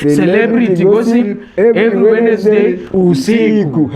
Celebrity gossip every Wednesday usiku.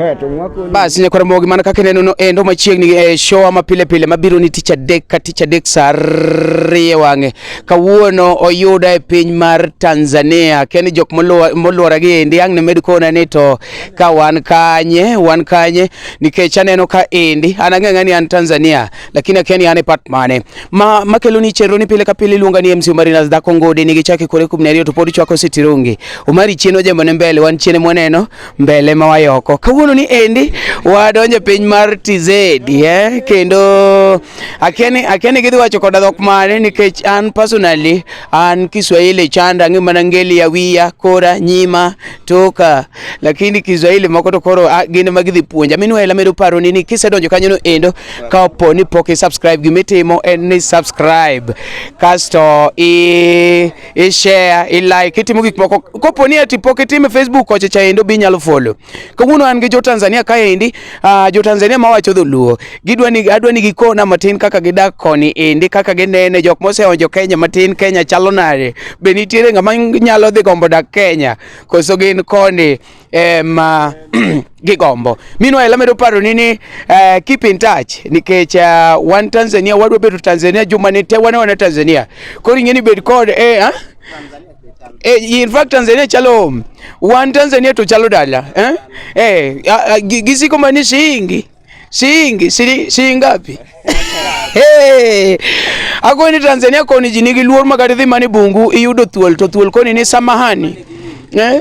Basi ni koramo gimana kaka neno no endo machiegni e show ama pile pile mabiro ni ticha dek ka ticha dek sarie wange. Kawuono oyuda e piny mar Tanzania. Ken jok moluora gi endi ang ne med kona ni to ka wan kanye, wan kanye nikech aneno ka endi anang'ang'ani an Tanzania. lakini akiani yane pat mane ma makelo ni chero ni pile ka pile luonga ni MC Omari nas dako ngode ni gichake kore kum nariyo to pod chwako sitirongi Omari chieno jembo ne mbele wan chiene mwaneno mbele ma wayoko kawuono ni endi wadonje piny mar TZ eh kendo akiani akiani gidhi wacho koda dhok mane nikech an personally an Kiswahili chanda ngima na ngeli ya wiya kora nyima toka lakini kiswahili moko to koro ah, gin ema gidhi puonja minwa ela medo paroni ni kisedonjo kanyono endo ka opo ni pok isubscribe gimitimo en ni subscribe kasto i, i share i like itimo gik moko kopo ni ati pok itime facebook kocha cha endo bi nyalo follow kawuono an gi jo tanzania kaendi Ah, jo Tanzania ma wacho dholuo gidwa ni adwa ni gikona matin kaka gidak koni endi kaka ginene jok moseonjo Kenya matin Kenya chalo nade be nitiere ng'ama nyalo dhi gombo dak Kenya koso gin koni ema gigombo minwa ela medo paro ni ni uh, keep in touch nikech uh, wan Tanzania wadwa bedo Tanzania juma ni te wane wane Tanzania koro ing'e ni bed kod eh, ah? Eh, in fact Tanzania chalo wan Tanzania to chalo dala eh? Eh, gisiko mani shiingi shiingi sili shiingapi? Hey, ako ni Tanzania koni jinigi luor makati dhi mani bungu iyudo thuol to thuol koni ni samahani eh?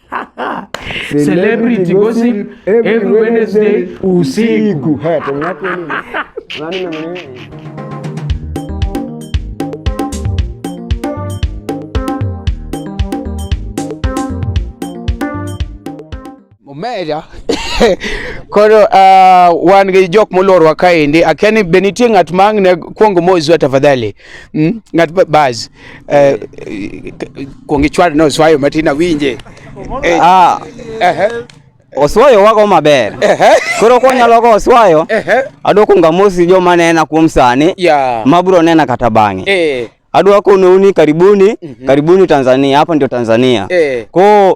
Celebrity gossip every Wednesday usiku. Haya, Meja koro uh, wan gi jok molorwa kaendi akia ni be nitie ng'at ma ang' ne kwongo mozwa tafadhali mm? ng'at baz Eh, kuongi chwad no swayo matina winje. Eh, ah. Eh. Oswayo wago maber. Koro kwa nyalo go oswayo. Eh. Adwa kunga mosi jo manena kuom sani. Yeah. Mabro nena kata bangi. Eh. Adwa kono uni karibuni, mm -hmm. karibuni Tanzania. Hapa ndio Tanzania. Eh. Kwa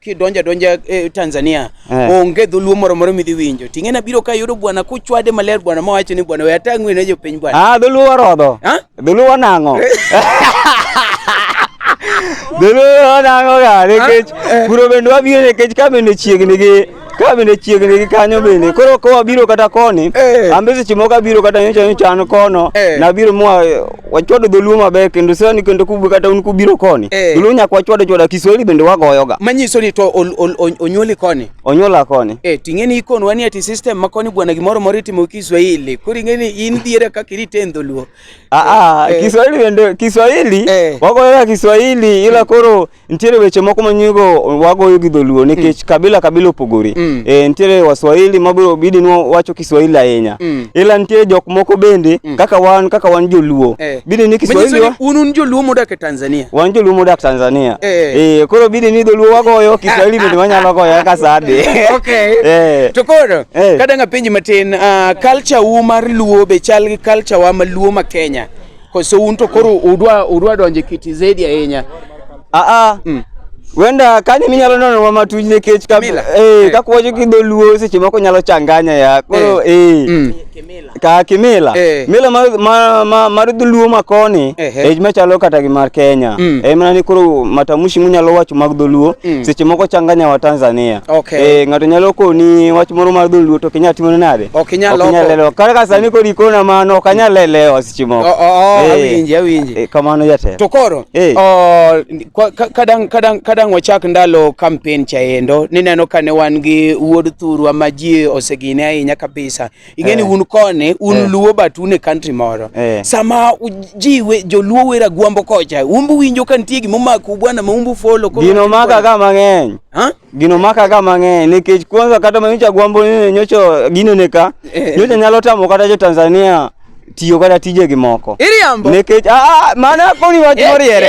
kidonja donja eh, Tanzania eh. onge dholuo moro moro midhi winjo ting'e na biro ka yudo bwana kuchwade maler bwana ma wacho ni bwana we atang'we ne jopiny bwana ah dholuo warodho ah dholuo nang'o dholuo nang'o ga nikech eh. kuro bende wabiro nikech ka bende chiegni gi ka bende chiegni gi kanyo bende koro ko wabiro kata koni eh. ambe seche moko abiro kata nyocha nyocha an kono eh. nabiro mwa wachwado dholuo maber kendo sani kendo kub kata un kubiro koni eh. dholuo nyaka wachwado chwada kiswahili bende wagoyoga manyiso ni to onyuoli koni onyuola koni eh ting'e ni ikon wanie ti system ma koni bwana gimoro moro itimo kiswahili koro ing'e ni in dhiere kaka irite dholuo a ah, a ah, eh. kiswahili bende kiswahili eh. wagoyoga kiswahili ila koro Nitiere weche moko ma nyigo wagoyo gi dholuo nikech mm. kabila kabila opogore. Mm. E, nitiere waswahili ma biro bidi nwa wacho Kiswahili ahinya. Mm. Ila nitiere jok moko bende mm. kaka wan kaka wan joluo. Eh. Bidi ni Kiswahili wa... un un joluo modak e Tanzania. Wan joluo modak Tanzania. Eh. E, koro bidi ni dholuo wagoyo Kiswahili bende wanyalo goyo kaka sade. okay. Eh. To koro eh. kadanga penji matin uh, culture u mar luo be chal gi culture wa ma luo ma Kenya. Kwa so un to koro udwa udwa donje kiti zaidi ya yenya. Ah ah. Mm. Wenda kani minyalo nono wa matuj ne kech ka Kimila. eh Eh. ka kwacho ki dholuo seche moko nyalo changanya ya. Koro eh. Mm. Ka kimila. Eh. Mila ma ma, ma mar dholuo ma koni Ehe. eh machalo kata gi mar Kenya. Mm. Eh mana ni koro matamushi munyalo wacho mag dholuo Mm. seche moko changanya wa Tanzania. Okay. Eh ngato nyalo koni wach moro mar dholuo to kinya timo nade? Ok inyal loko. Okinyal lelo. Kata ka sani kori kona mano ok anyal lelewa. timo Oh, oh, oh, Eh, awinji, awinji. eh, kamano jatelo To koro Eh. oh, kwa- ka- kadang' kadang' kadang' wachak ndalo kampen cha endo nineno ka ne wan gi wuod thurwa ma ji osegine ahinya kabisa ing'e ni Eh. un koni un Eh. luo but un e country moro Eh. sama u- ji we- joluo wera gwambo kocha umbu winjo ka nitie gimomako bwana ma umbu folo koro- gino maka ka mang'eny Ha? Gino maka ga mang'eny nikech kwanza kata ma nyocha gwambo ni nyocha gino ne ka eh. nyocha nyalo tamo kata jo Tanzania tiyo kata tije gi moko iriambo nikech ah, ah mana koni wach eh, moriere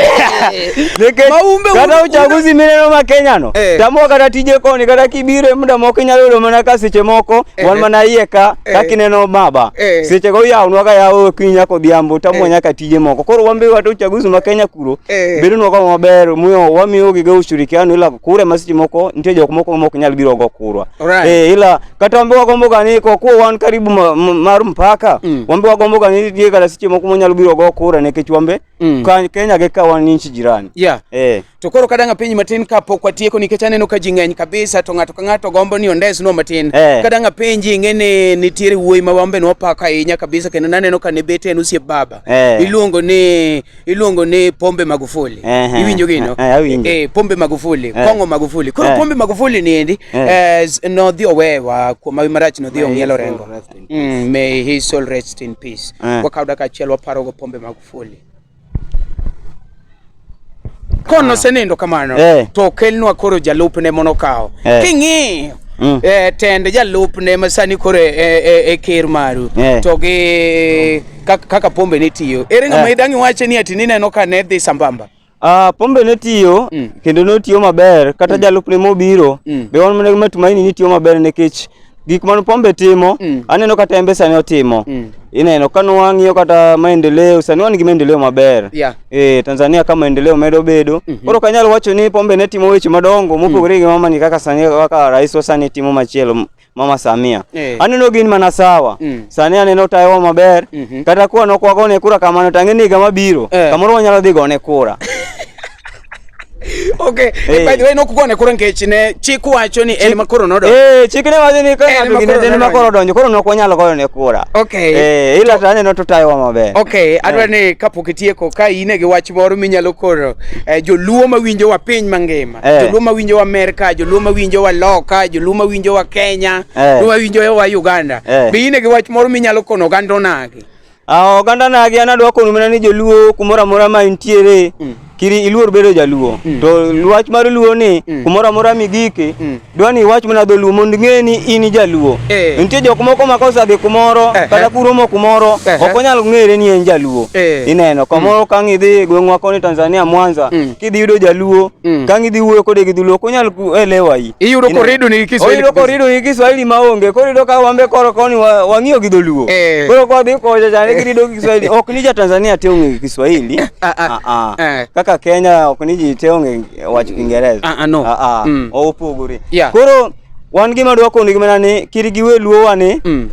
eh, nikech kata uchaguzi mineno ma Kenya no tamo kata tije koni kata kibire muda moko inyalo yudo mana ka seche moko wan mana iye ka ka kineno baba seche go yawnwa ka yawo kinya kodhiambo tamo nyaka tije moko koro wambe watu uchaguzi ma Kenya puro eh. bedo nwa kama maber muyo wamiyo gi go ushirikiano ila kure masiti moko ntie jok moko mok nyal biro go kurwa right. eh, ila kata wambe wagombo gani kwa kuwa wan karibu ma, ma, mar mpaka mm. wambe wagombo gani die kala siti moko monyal biro go kura ne kech wambe mm. ka Kenya ge ka wan nchi jirani yeah. eh. to koro kadanga piny matin ka pok watieko nikech aneno ka ji ng'eny kabisa to ng'ato ka ng'ato gombo ni ondes no matin eh. kadanga penji ing'e ni nitiere wuoyi ma wambe nwapako ahinya kabisa kendo naneno ka ne bete en usie baba eh. iluongo ni iluongo ni Pombe Magufuli. Ehe. Iwinjo gino? Eh, eh, awinjo. Eh, Pombe Magufuli, Kong'o Magufuli. Koro Eh. Pombe Magufuli ni endi Eh. eh, s- nodhi owewa kuom mawi marach nodhi ong'ielo soul rengo. rest in Mm, may his soul rest in peace. Eh. Wakaw dakika achiel waparogo Pombe Magufuli. Kono osenindo kamano Eh. to okelnwa koro jalupne mondo okaw. Eh. King'iyo Mm. eh, tend jalupne ma sani koro e- e- e- e ker maru Eh. to gi kaka pombe ne tiyo. Ere ng'ama eh. idang' iwache ni ati nineno ka ne dhi sambamba? Ah, pombe ne tiyo mm. kendo ne otiyo maber kata mm. jalupne mobiro mm. be wan mana matumaini ni tiyo maber nikech gik man pombe timo mm. aneno kata embe sani otimo mm. ineno ka nwang'iyo kata maendeleo sani wan gi maendeleo maber yeah. e, Tanzania ka maendeleo medo bedo mm -hmm. koro kanyalo wacho ni pombe ne timo weche madongo mopogore mm. gi mamani kaka sani kaka rais wa sani timo machielo Mama Samia eh. aneno gin mana sawa mm. sani aneno tayowa maber mm -hmm. kata kuwa nokwagone kura kamano tang'e ni higa mabiro eh. kamoro wanyalo dhi gone kura Okay. Hey. By the way, nokugone koro nikech ne chik wacho ni en makoro nodonjo. Eh, chik ne wacho ni ka ng'ato gine en makoro donjo, koro nok wanyalo goyo ne kura. Okay. Eh, ila to aneno to tayo maber. Okay, eh. adwa ni kapok itieko ka ine gi wach moro minyalo koro eh, joluo mawinjo wa piny mangima. Eh. joluo ma winjo wa merka joluo ma winjo wa loka joluo ma winjo wa kenya Eh. joluo ma winjo wa uganda Eh. be ine gi wach moro minyalo kono oganda onagi Ah, oganda nagi an adwa kono mana ni joluo kumoro amora ma intiere Mm. kiri iluor bedo jaluo Mm. to wach mar luo ni Mm. kumoro amora migike Mm. dwa ni iwach mana dholuo mondo ing'e ni in jaluo eh. nitie jok moko ma kosadhi kumoro eh, kata eh. kuromo kumoro eh, ok onyal ng'ere ni en jaluo eh. ineno kamoro mm. kang' idhi gweng'wa koni tanzania mwanza mm. kidhi yudo jaluo mm. kang' idhi wuoyo kode gi dholuo ok onyal elewa i iyudo korido ni kiswahili oyudo korido ni kiswahili maonge koro yudo ka wambe koro koni wang'iyo gi dholuo eh. koro kwa dhi koja chane eh. girido gi kiswahili ok ni ja tanzania te ong'e kiswahili ah, ah. Ah, kaka kenya ok ni ji te ong'e wach Kiingereza. Ah, ah, no. Ah, ah. Mm. Opogore. Yeah. Koro wan gima dwa kono gima ni kiri giwe luowa ni Mm.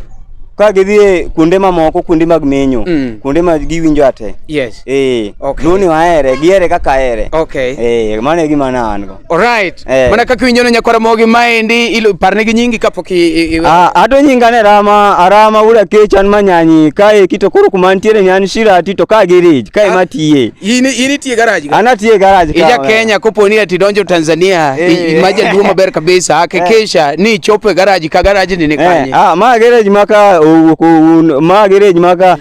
ka gidhi e kuonde mamoko kuonde mag menyo Mm. kuonde ma giwinjo ate Yes. eh Okay. luo ni wahere gihere kaka ahere Okay. eh mano e gima na an go Alright. Eh. Mana kaka winjono nyakwara mogi maendi ilo parne gi nyingi kapok i- i- i- Ah, ado nyinga ne rama arama ura kechan manyanyi kae kito koro kuma ntiere nyan shirati to ka girij kae Ah. matiye In in itie garage. Ana tie garage. Ija Kenya kopo ni ati donjo Tanzania eh. maja duo maber kabisa eh. hakikisha ni chopo garage ka garage ni nikanye. Eh. Ah ma garage maka ma garage maka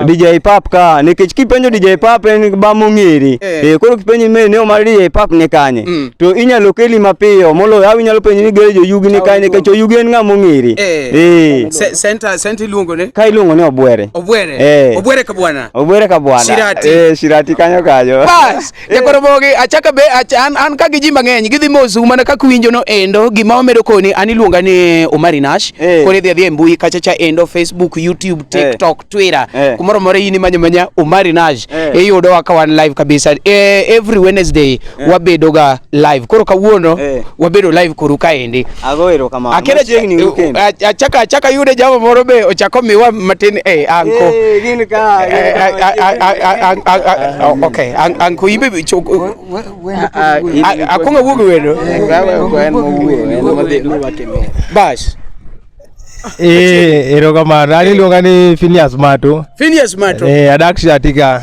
DJ Pap ka nikech kipenjo DJ Pap en ba mong'eri. Eh koro kipenjo me ne omar DJ Pap ni kanye. Mm. To inyalo keli mapiyo molo awi nyalo penjo ni garage oyugi ni kanye nikech oyugi en ng'a mong'eri. Eh. Center center iluongo ne. Ka iluongo ne Obwere. Obwere. Obwere ka bwana. Obwere ka bwana. Shirati. Eh, shirati kanyo kanyo. Bas, jakoro mogi achaka be ach, an, an ka gi ji mang'eny gidhi mosu mana kaka winjo no endo gima wamedo koni an iluonga ni Omari Nash Eh. koni dhi adhi e mbui kacha cha endo Facebook, YouTube, TikTok, Twitter Eh. kumoro moro in imanya manya Omari Nash Eh. iyudo wa ka wan live kabisa eh, every Wednesday eh. wabedo ga live koro kawuono eh. wabedo live koru kaendi agoero kamano akere chiegni eh, weekend achaka achaka yude jamo moro be ochako miwa matin eh anko eh gin ka okay anko imbe akonga wugo wendo bas Eh, erokamano. Ani luonga ni Phineas Mato. Phineas Mato. Eh, adak Shatika.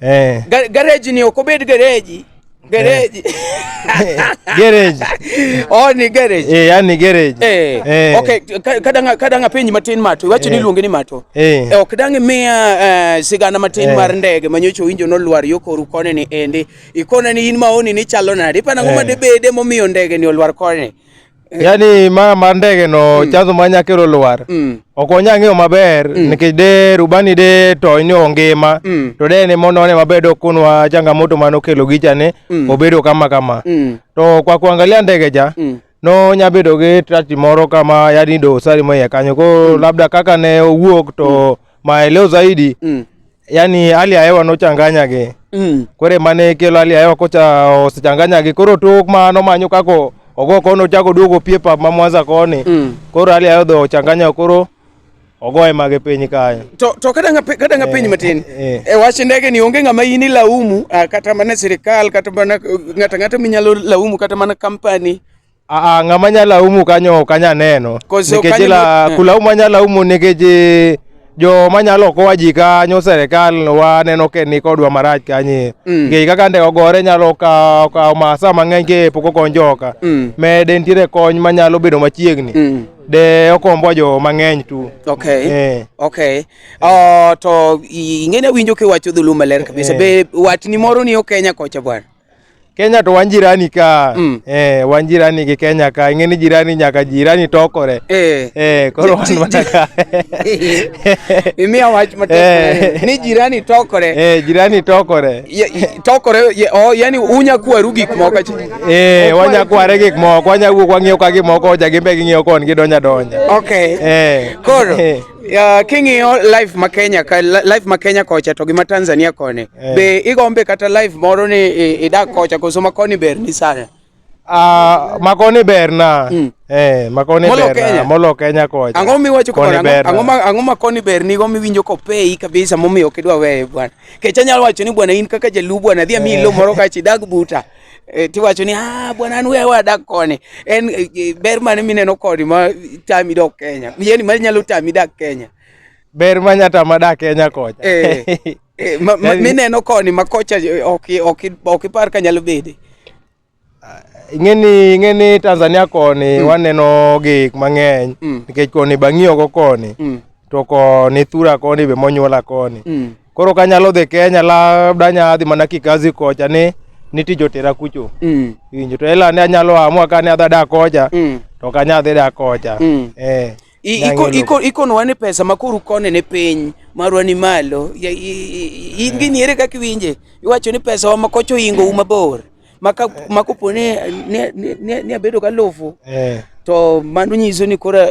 eh. Ga gareji ni okobed gareji gereji eh. gereji oh ni gereji eh yani gereji eh, eh. okay kadanga kadanga penyi matin mato iwacho eh. ni luonge ni mato eh, eh ok dangi miya uh, sigana matin eh. mar ndege manyocho winjo no lwar yo koru kone ni endi ikone ni in maoni ni chalo nade pana ngoma eh. de bede momiyo ndege ni olwar kone Eh. yani ma mar ndege no mm. chanzo ma nyakero lwar mm. ok onya ng'eyo maber mm. nikech de rubani de to ni ongima mm. to de ne mono ne maber do kunwa changamoto mano kelo gicha ne mm. obedo kama kama mm. to kwa kuangalia ndege ja mm. no nya bedo gi trati moro kama yani do sari moye kanyo ko mm. labda kaka ne owuok to mm. Maeleo zaidi mm. yani hali ya hewa nochanganyage mm. kore mane kelo hali ya hewa kocha osechanganyage koro tok mano manyo kako ogo kono chako duogo pie pap ma Mwanza koni mm. koro hali ya hewa dho ochanganya koro ogoye mage piny kae to, to kata ngape kata ngape eh, matin eh, eh. e wach ndege ni onge ngama yini laumu ah, kata mana sirikal kata mana ngata ngata minyalo laumu kata mana company Aa, ah, ng'ama nya laumu kanyo ok anya neno nikech la eh. kulaumu anya laumu nikech eh, jo manyalo kowa ji kanyo serikal waneno ke ni kodwa marach kanye mm. nikech kaka nde ogore nyalo kawo kawo masa mang'eny ke pok okony joka mm. mede nitiere kony manyalo bedo machiegni mm. de okombo jo mang'eny tu okay eh. okay uh, to ing'e ne winjo kiwacho dhulu maler kabisa eh. be watni moro ni okenya kocha bwana Kenya to wan jirani ka mm. eh, wan jirani gi Kenya ka ing'e ni jirani nyaka jirani tokore eh, eh koro wan mana ka imiya wach matek eh. ni jirani tokore eh, jirani tokore ya, tokore ya, oh, yani unya kwaru gik moko eh, wanya kware gik moko wanya wuok wang'iyo ka gik moko oja gimbe ging'iyo kon gidonja donja okay eh, koro eh. Ya king'iyo live ma Kenya ka live ma Kenya kocha to gi ma Tanzania koni. Eh. Be igombe kata live moro ni idak kocha koso ma koni ber ni sana. Ah, makoni berna. Mm. Eh, makoni molo berna. Kenya. Molo Kenya kocha. Ang'o miwacho koni berna. Ang'o ma ang'o makoni berni go miwinjo ko pei kabisa momiyo kidwa weye bwana. Kecha nyalo wacho ni bwana in kaka jaluo bwana dhi amiyi eh. lo moro kachi dag buta. Eh, tiwacho ni ah, bwana an wewa adak koni en eh, eh, ber mane mineno koni ma tami dok Kenya yani ma nyalo tami dak Kenya ber ma nyata ma dak Kenya kocha eh, eh, ma, ma, mineno koni ma kocha ok ok ok par ka nyalo bede ah, ing'eni ing'eni Tanzania koni mm. waneno gik mang'eny mm. nikech koni bang'iyo go koni mm. to koni thura koni be monyuola koni mm. koro kanyalo dhi kenya labda nyadhi mana kikazi kocha ni niti jotera kucho mm. injo to ela ne anyalo amua kane adha da kocha mm. to kanya adhi da kocha mm. eh iko iko iko no wane pesa makuru kone ne piny marwa ni malo in gi niere kaka iwinje iwacho ni pesa wa makocho ingo uma bor maka makopo ne ne ne, ne abedo ka lofu eh. to mano nyiso ni kora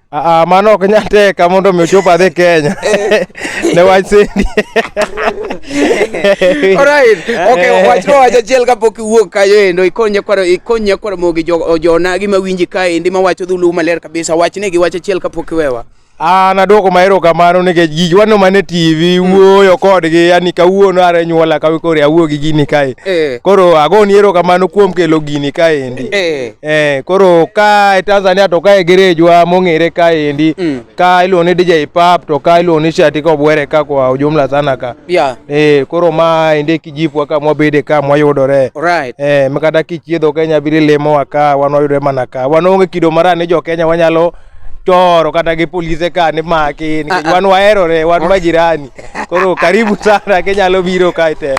Aa, mano ok nyal teka mondo mi ochop adhi Kenya ne wach sendi. Alright. Okay, wach no wach achiel kapok iwuok kayo endo ikony nyakwaro ikony nyakwaro mogi jo jona gi mawinji ka endi mawacho dhulu maler kabisa wachne gi wach achiel kapok iwewa. Ah, naduoko ma erokamano nikech gigi waneno mana e TV wuoyo kodgi yani kawuono are nyuola kawe koro awuo gi gini kae. Eh. Koro agoni erokamano kuom kelo gini kaendi. Eh. Eh, koro ka e Tanzania to ka e gerejwa mong'ere ka endi mm. ka iluongo ni DJ Pap to ka iluongo ni Shati ka obwere ka kwa ujumla sana ka yeah. eh, koro ma ende kijipwa ka mwabede ka mwayudore right. eh, makata kichiedho Kenya biri lemo wa ka wan wayudore mana ka wan onge kido mara ni jo Kenya wanyalo toro kata gi polise ka ni maki nikech ah, ah. wan waherore wan majirani koro karibu sana kinyalo biro kae te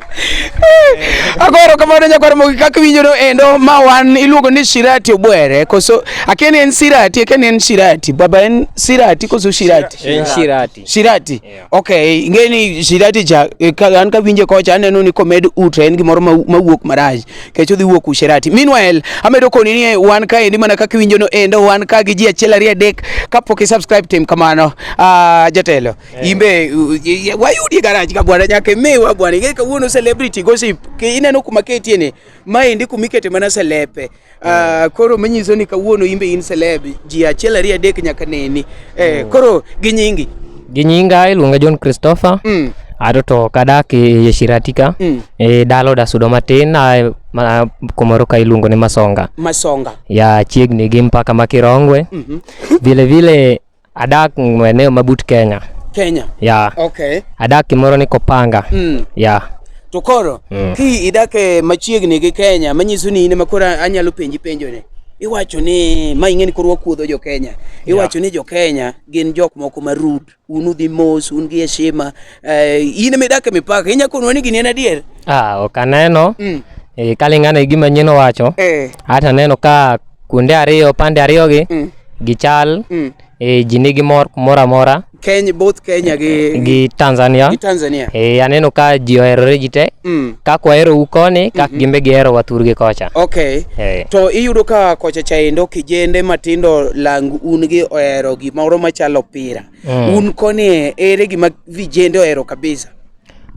agoro kamano nyakwar mogi kaka winjono endo ma wan iluongo ni shirati obwere koso akia ni en sirati akia ni en shirati baba en sirati koso shirati en shirati shirati yeah. okay ing'e ni shirati cha eh, an kawinje kocha aneno ni komed utre en gimoro mawuok marach kech odhi wuok ushirati meanwhile amedo koni ni wan ka endi mana kaka iwinjono endo wan ka gi ji achiel ariyo adek kapok i subscribe tim kamano uh, jatelo Eh. Imbe u- i- i- wayudi e garaj ka bwana nyaka imiwa bwana ing'e kawuono celebrity gossip Ki- ineno kuma ketie ni maendi kuma ikete mana selepe Ah, koro manyiso ni kawuono imbe in celeb ji achiel ariyo adek nyaka neni Eh, koro gi nyingi Gi nyinga iluonga John Christopher. Mm, Ato to kadak e Shirati ka. mm. E dala odasudo matin a ma, kumoro ka iluongo ni Masonga. masonga Ya chiegni gi mpaka ma Kirongwe. Mhm. Vile vile Adak maeneo mabut Kenya. Kenya. Yeah. Okay. Adak kimoro ni Kopanga. Mm. Yeah. To koro mm. ki idak e machiegni gi Kenya manyiso ni in makoro anyalo penji penjo ni. Iwacho ni ma ing'e ni koro wakuodho jo Kenya. Iwacho yeah. ni jo Kenya gin jok moko ma rude. Un udhi mos, un gi heshima. Eh, in ema idak e mipaka, inya konwa ni gini en adier? Ah, ok aneno. Mm. E, kalingana gi gima nyien owacho. Eh. Hata aneno ka kuonde ariyo, pande ariyo gi mm. gichal. Mm. E, ji nigi mor kumoro amora. Kenya, both Kenya gi, gi Tanzania. Gi Tanzania. E, aneno ka ji oherore ji te. Mm. Kaka wahero u koni, kaka mm -hmm. gimbe gihero wathurgi kocha. Okay. E. To iyudo ka kocha chaendo kijende matindo lang un gi ohero gimoro machalo opira. Mm. Un koni ere gima vijende ohero kabisa?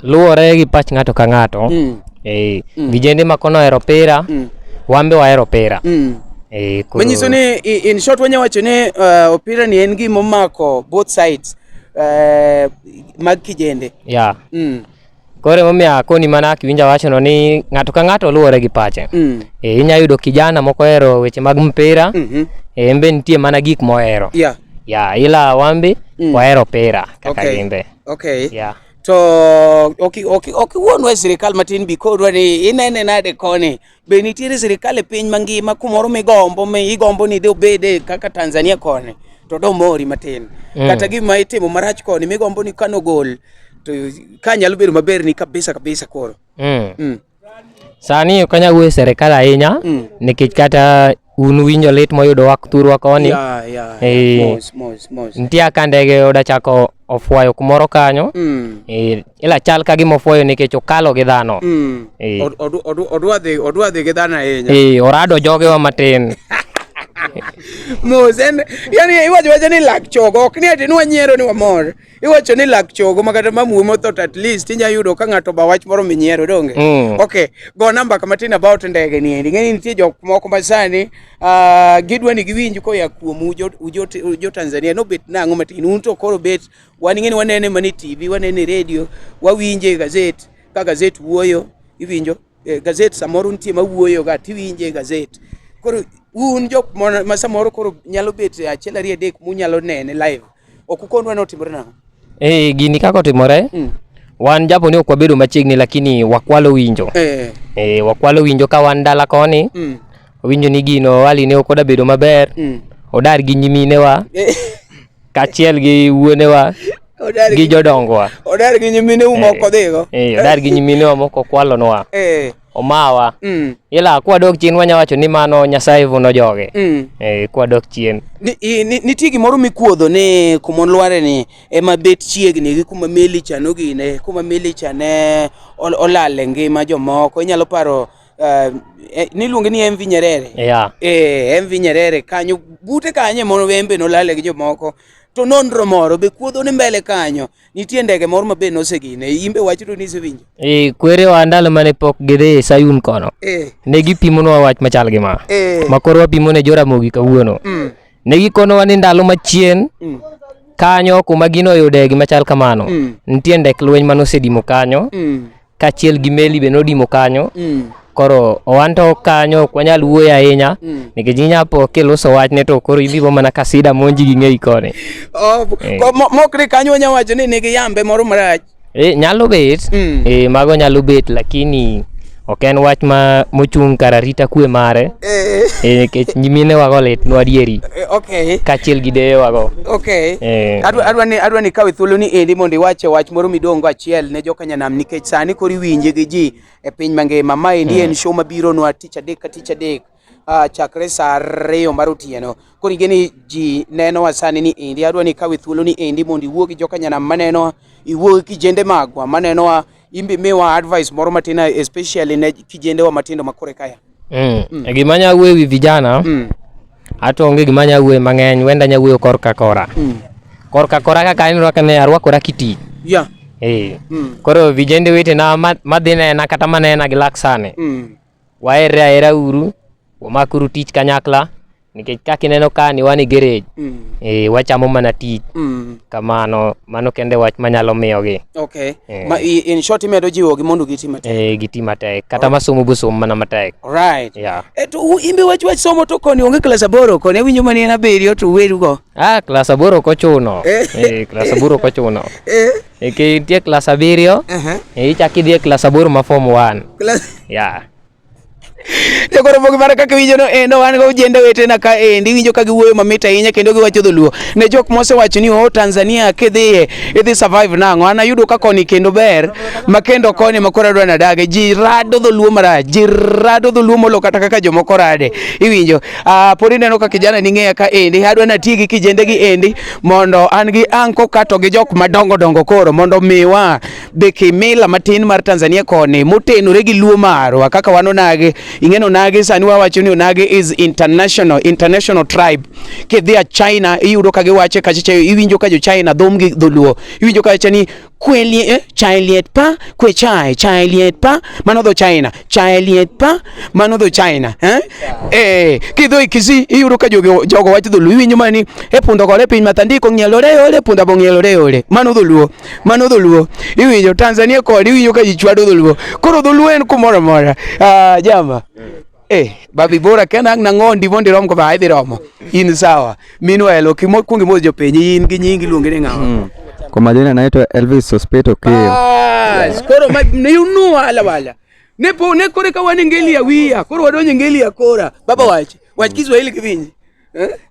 Luwore gi pach ng'ato ka ng'ato. Mm. Eh, mm. vijende ma kono ohero pira, mm. wambe wahero pira. Mm. Eh, koro... Manyiso ni in short wanya wacho ni uh, opira ni en gima omako both sides uh, mag kijende. Yeah. Mm. Koro emomiyo akoni mana kiwinja wachono ni ng'ato ka ng'ato luwore gi pache. Mm. E, inya yudo kijana moko hero weche mag mpira. Mm -hmm. E, embe nitie mana gik mohero. Yeah. Ya, ila wambi mm. wahero pira kaka okay. gimbe. Okay. Yeah. To okiwuonwa okay, okay, okay, sirikal matin bi kodwa ni inene nade koni Be nitiere sirkal e piny mangima kumoro migombo mi igombo ni de obede kaka Tanzania koni to do mori matin mm. kata gima itimo marach koni migombo ni kano gol to ka nyalo bedo maber ni kabisa kabisa koro mm. Mm. Sani ok anyal wuoyo sirkal ahinya mm. nikech kata un winjo lit moyudo wa thurwa koni yeah, yeah, e, mos, mos, mos. nitie aka ndege oda chako ofwayo kumoro kanyo mm. e, ila chal ka gima ofwayo nikech okalo gi dhano mm. e, odwa dhi gi dhano ahinya e, orado jogewa matin mos en yani iwacho wacho ni lak chogo ok ni ati nwanyiero ni wamor iwacho ni lak chogo ma kata mamuwe mothot at least inya yudo ka ng'ato ba wach moro minyiero donge mm. ok go namba kama tin about ndege ni endi ng'eni nitie jok moko ma sani uh, gidwa ni giwinj koya kuom ujo, ujo, ujo Tanzania no bet nang'o matin un to koro bet wan ing'eni wanene mani TV wanene radio wawinje gazet ka gazet wuoyo iwinjo eh, gazet samoro nitie mawuoyo ga tiwinje gazet koro un jok ma samoro koro nyalo bet achiel ariyo adek munyalo nene live Ok ukondwa ni otimore nang'o? Eh, gini kaka otimore Mm. wan japo ni ok wabedo machiegni lakini wakwalo winjo Eh. eh, wakwalo winjo ka wan dala koni Mm. winjo ni gino wali ne ok odabedo maber Mm. odar gi nyiminewa Eh. kaachiel gi wuonewa Odar gi gi jodongowa odar gi nyimine u moko dhigo. eh, odar gi nyiminewa moko kwalonwa Eh. omawa mm. ila kwadok chien wanya wacho ni mano nyasaye vuno joge mm. e, kwadok chien nitie gimoro mikuodho ni kumon lware ni ema bet chiegni gi kuma meli cha nogine kuma meli cha ne olale ngima jomoko inyalo paro Uh, niluonge ni MV Nyerere yeah. eh, MV Nyerere kanyo bute kanye mono wembe nolale gi jomoko to nonro moro be kuodho ni mbele kanyo nitie ndege moro mabe nosegine imbe wachito ni isewinjo e kwerewa ndalo mane pok gidhi sayun kono e. ne gipimonwa wach machal gi ma e. ma koro wapimo ne joramogi kawuono mm. ne gikonowa ni ndalo machien mm. kanyo kuma ginoyude gimachal kamano mm. nitie ndek lweny manosedimo kanyo mm. kaachiel gi meli be nodimo kanyo Mm. koro wan to kanyo ok wanyal wuoyo ahinya Mm. nikech inyapo kiluso wachne to koro ibibo mana ka sida monji gi ng'eyi koni Oh, Eh. ko- mo- mokre kanyo wanya wacho ni nigi yambe moro marach e, nyalo bet Mm. e, mago nyalo bet lakini ok en wach ma mochung' kar arita kwe mare Eh, e, nikech nyimine wago litnwa adieri eh, okay kaachiel gi deye wago okay Eh. adwa adwa ni adwa ni kawe thuolo ni endi mondo iwache wach moro midongo achiel ne joka Nyanam nikech sani kori winje gi ji e piny mangima. Ma endi en hmm. show mabiro nwa tich adek ka tich adek uh, chakre sa ariyo mar otieno. Koro ing'e ni ji nenowa sani ni endi adwa ni kawe thuolo ni endi mondo iwuo gi joka Nyanam manenowa, iwuo gi kijende magwa manenowa, imbe miwa advice moro matin especially ne kijendewa matindo makore kaya. Mm. Mm. E gima nya wuoyo wi vijana mm. ato onge gima nya wuoyo mang'eny wenda nya wuoyo kor ka kora mm. kor ka kora kaka en rwaka ne arwakora kiti yeah. hey. mm. koro vijende wete na madhi nena kata manena gi laksane mm. waere aera uru wamakuru tich kanyakla nikech ka kineno ka ni wan e gerej mm. e, wachamo mana tich mm. kamano mano kende wach manyalo miyogi okay. e. Ma, in short imedo jiwogi mondo giti matek e, giti matek kata right. masomo bosom mana matek right. yeah. e, to imbe wach wach somo to koni onge klas aboro koni awinjo mani en abiriyo to werugo ah, klas aboro kochuno eh. e, klas aboro kochuno eh. e, nitie klas abiriyo uh -huh. e, ichak idhi e klas aboro ma form one yeah. jogoro mogi mara kaka winjo no endo eh, wan go jende wetena ka endi eh, winjo ka giwuoyo mamit ahinya kendo giwacho dholuo ne jok mosewacho ni o oh, Tanzania kidhiye idhi survive nang'o an ayudo ka koni kendo ber ma kendo koni ma koro adwa nadage ji rado dholuo marach ji rado dholuo molo kata kaka jomoko rade iwinjo ah, pod ineno ka kijana ni ng'eya ka endi adwa nati gi kijende gi endi mondo an gi anko kato gi jok madongo dongo koro mondo miwa be kimila matin mar Tanzania koni motenore gi luo marwa kaka wan onage ing'e onage sani wawacho ni onage is international international tribe kidhi a China iyudo ka giwache kachacha iwinjo ka jo China dhom gi dholuo iwinjo ka wacho ni kwelie eh, chailiet pa kwe chai chailiet pa mano dho China chailiet pa mano dho China eh eh kidho ikisi iyudo ka jogo jogo wacho dholuo iwinjo mani e pundo gore piny matandiko ng'ielore ole punda bong'ielore ole mano dholuo mano dholuo iwinjo tanzania kod iwinjo ka ji chwado dholuo koro dholuo en kumoro amora Ah, jama Eh, babi bora kena ang nango ndimo ndirom ko ba idhi romo in sawa minwa elo kimo kungi mo jo penyi in gi nyingi luonge ni ngawa Kwa majina naitwa Elvis Sospeto Keo. bas koro ma ne unu wala wala ne po ne kore ka wan ngeli ya wiya koro wadonje ngeli ya kora baba wache wach kiswahili kivinji eh?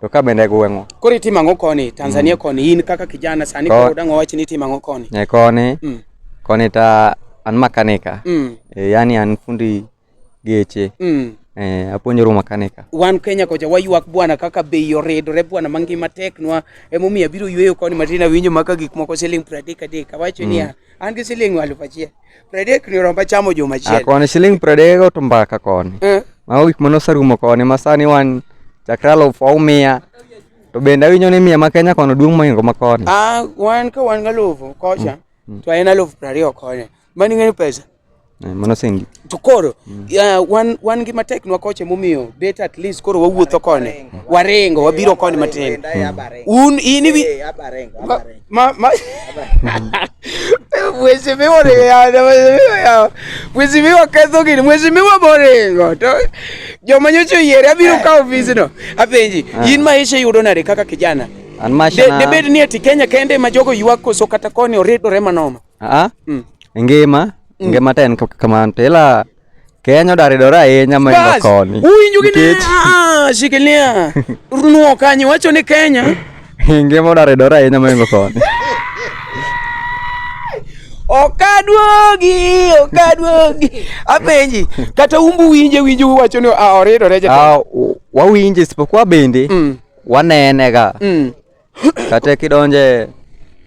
To ka bende gweng'o. Koro itimo ang'o koni? Tanzania mm. koni in kaka kijana sani Ko... koro dang'o wach ni itimo ang'o koni? E koni. Mm. Koni ta an makanika. Mm. E, yani an fundi geche. Mm. Eh, apuonjora makanika. Wan Kenya kocha waywak bwana kaka bei oridore bwana mangima teknwa emomiyo abiro yweyo koni matin awinjo maka gik moko siling' pradek adek awacho mm. niya An gi siling' aluf achiel. Pradek ni oromba chamo juma achiel. Ah, koni siling' pradek oto mbaka koni. Eh. Mago gik mane oserumo koni ma sani wan chakre aluf aumiya. To bende awinjo ni miya ma Kenya kono duong' moingo ma koni. Ah, wan ka wan galufu kocha. Mm. Mm. To en alufu prariyo koni. Mani ng'eni pesa. Eh, mano sengi to koro mm. uh, wan wan gi matek nwa koche momiyo bet at least koro wawuotho koni waringo wabiro koni matin mm. un in iwi ma ma mheshimiwa mheshimiwa mheshimiwa ketho gini mheshimiwa moringo to joma nyocha oyiere abiro ka ofisno apenji ah. in maisha yudo nade kaka kijana debed ni ati kenya kende ma jogo ywak koso kata koni oridore manoma Aa, mm. ngima mm. ngima to en kamano to ila Kenya odaridore ahinya maingo koni. Uwinjo gi ne? Ah, shikilia. Runuo kanyo wacho ni Kenya. Ngima odaridore ahinya maingo koni. Okaduogi, okaduogi. Apenji, kata umbu winje winju wacho ni ah, oridore jata. Ah, wawinje isipokuwa bende mm. wanenega. Mm. kata kidonje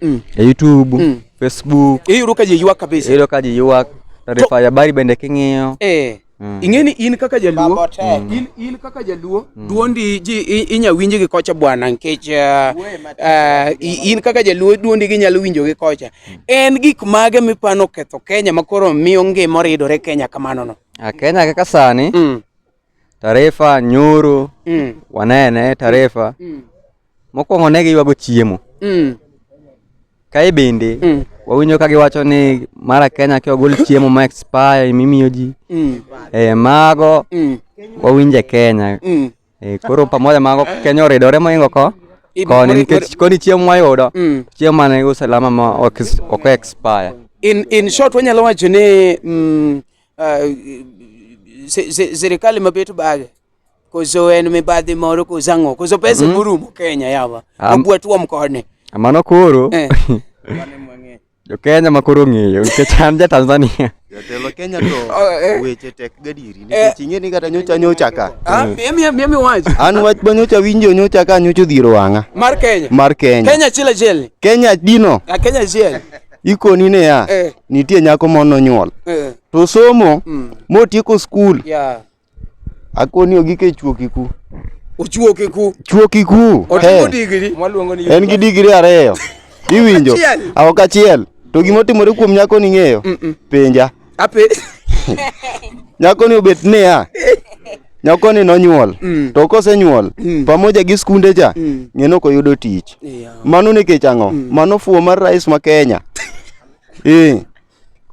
mm. e YouTube mm. Facebook iyudo ka ji ywak kabisa iyudo ka ji ywak taarifa ya habari bende king'iyo eh Mm. Ing'eni in kaka jaluo mm. in, in kaka jaluo mm. duondi ji inya winji gi kocha bwana nikech uh, uh, in kaka jaluo duondi gi nyalo winjo gi kocha mm. en gik mage mipano ketho Kenya makoro miyo ngima oridore Kenya kamano no a Kenya kaka sani mm. Tarefa nyoro mm. wanene Tarefa mm. mm. mokwongo ne giywago chiemo mm. kae bende mm. wawinjo ka giwacho ni mara Kenya ki ogol chiemo ma expire mimiyo ji mm. e, mago mm. wawinje Kenya mm. e, koro pamoja mago Kenya oridore moingo ko koni nikech koni chiemo mwayudo mm. chiemo mane usalama ma ok expire in, in short wanyalo wacho ni mm, Sirikali mabet bage koso en mibadhi moro koso ang'o koso pesa mm. morumo Kenya yawa abwa tuom koni mano koro eh. jo Kenya ma koro ng'eyo nikech an ja Tanzania jatelo Kenya to oh, eh. weche tek gadiri nikech eh. ing'e ni kata nyocha nyocha ka ah, mimi wach an wach ma nyocha winjo nyocha ka nyocha odhiro wang'a mar Kenya mar Kenya Kenya chile chile Kenya dino ah, Kenya chile ikoni niya eh. nitie nyako mono nyuol eh. to somo mm. motieko skul yeah. akoni ogike chuokiku ochuokiku chuokiku en gi digri ariyo iwinjo aok achiel to gima otimore kuom nyako ning'eyo penja Ape. Nyako ni obet ne ya. Nyako ni nonyuol. Mm. To kose nyuol, mm. pamoja gi skunde cha, mm. ng'eno ko yudo tich. Yeah. Mano ni kech ang'o? Mm. Mano fuo mar rais ma Kenya. Eh.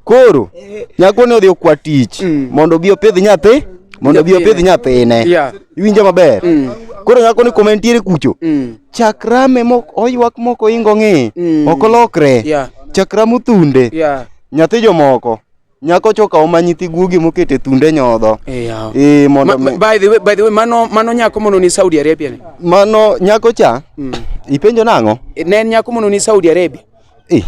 Koro, eh. nyako ni odhi okwa tich, mm. mondo bi opidh nyathi, mondo bi opidh nyathine. Yeah. Iwinjo maber? Mm. Koro nyako ni komentiere kucho. Mm. Chakrame mok oywak moko ingo ng'e, mm. okolokre. Yeah. Chakrame uthunde. Yeah. nyathi jomoko nyako choka oma nyithi guogi mokete thunde nyodho eh, eh mondo ma, by the way by the way mano mano nyako mono ni Saudi Arabia ne mano nyako cha mm. ipenjo nango eh, ne nyako mono ni Saudi Arabia eh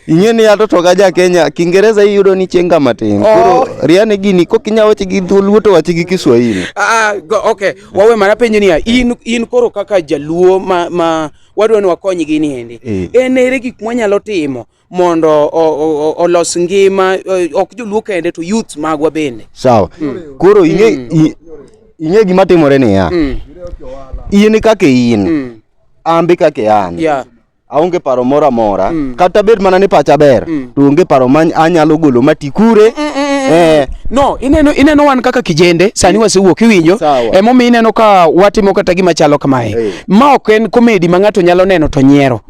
ing'e ni ato to ja Kenya Kiingereza iyudo ni chenga matin oh. koro riane gini kok inya wache gi dholuo to wache gi Kiswahili ah, ah okay wawe mana penjo niya in in koro kaka jaluo ma, ma wadwa ni wakony gini endi eh. en ere gik mwanyalo timo mondo olos ngima ok joluo kende to youth magwa bende. Sawa. Mm. Koro ing'e mm. ing'e gima timore niya. Mm. In kaka in. Mm. An be kaka an. Yeah. aonge paro moro amora mm. kata bed mana ni pacha ber mm. to onge paro ma anyalo golo mati kure mm, mm, mm, mm. eh. no ineno ineno wan kaka kijende sani mm. wasewuok iwinjo emomiyo ineno ka watimo kata gima chalo kamae hey. ma ok en komedi ma ng'ato nyalo neno to nyiero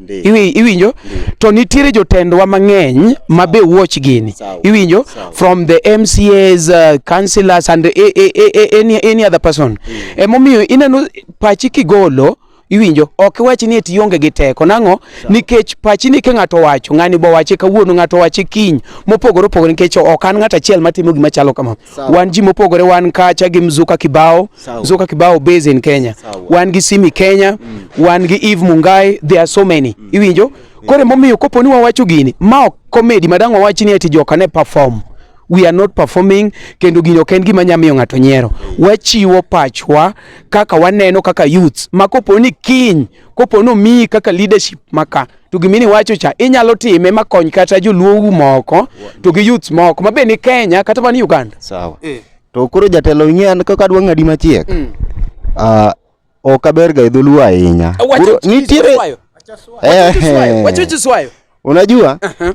iwinjo to nitiere jotendwa mang'eny ma be watch gini iwinjo from the mcas uh, councillors and a, a, a, any, any other person mm. emomiyo ineno pachi kigolo iwinjo ok iwach ni eti ionge gi teko nang'o nikech pachi ni ke ng'ato wacho ng'ani bo wache kawuono ng'ato wache kiny mopogore opogore nikech ok an ng'at achiel matimo gima chalo kamano Sao. Wan ji mopogore wan kacha gi Mzuka Kibao. Sao. Mzuka Kibao base in Kenya. Sao. Wan gi Simi Kenya, mm. wan gi Eve Mungai, there are so many. Mm. Iwinjo? Yeah. Kore momiyo kopo ni wawacho gini, ma ok comedy madang wawachi ni ati joka ne perform. We are not performing kendo gino ok en gima nya miyo ng'ato nyiero. Wachiwo pachwa kaka waneno kaka youths ma kopo ni kiny, kopo ni omiyi kaka leadership maka to gima ni wacho cha inyalo time makony kata joluowu moko to gi youths moko ma be ni Kenya kata man Uganda. Sawa. Eh. To koro jatelo ing'e an kaka adwa ng'adi machiek. Mm. Ah, ok aberga e dholuo ahinya. Wacha Koro nitiere- Kiswayo. Eh, Wacha Kiswayo. Wacha Kiswayo. Unajua? Aha.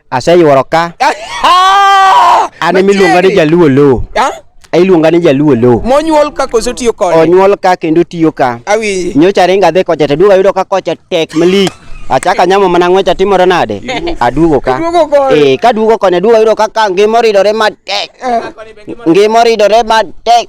Aseyuoro ka. An ema iluonga ni Jaluo Low. Iluonga ni Jaluo Low. Monyuol ka koso tiyo kode? Onyuol ka kendo tiyo ka. Awinji. Nyocha ringa adhi kocha to duogo ayudo ka kocha tek malich. Achaka nyamo mana ng'wecha timore nade? Aduogo ka. Eh, ka duogo koni aduogo ayudo ka ngima oridore matek. Ngima oridore matek.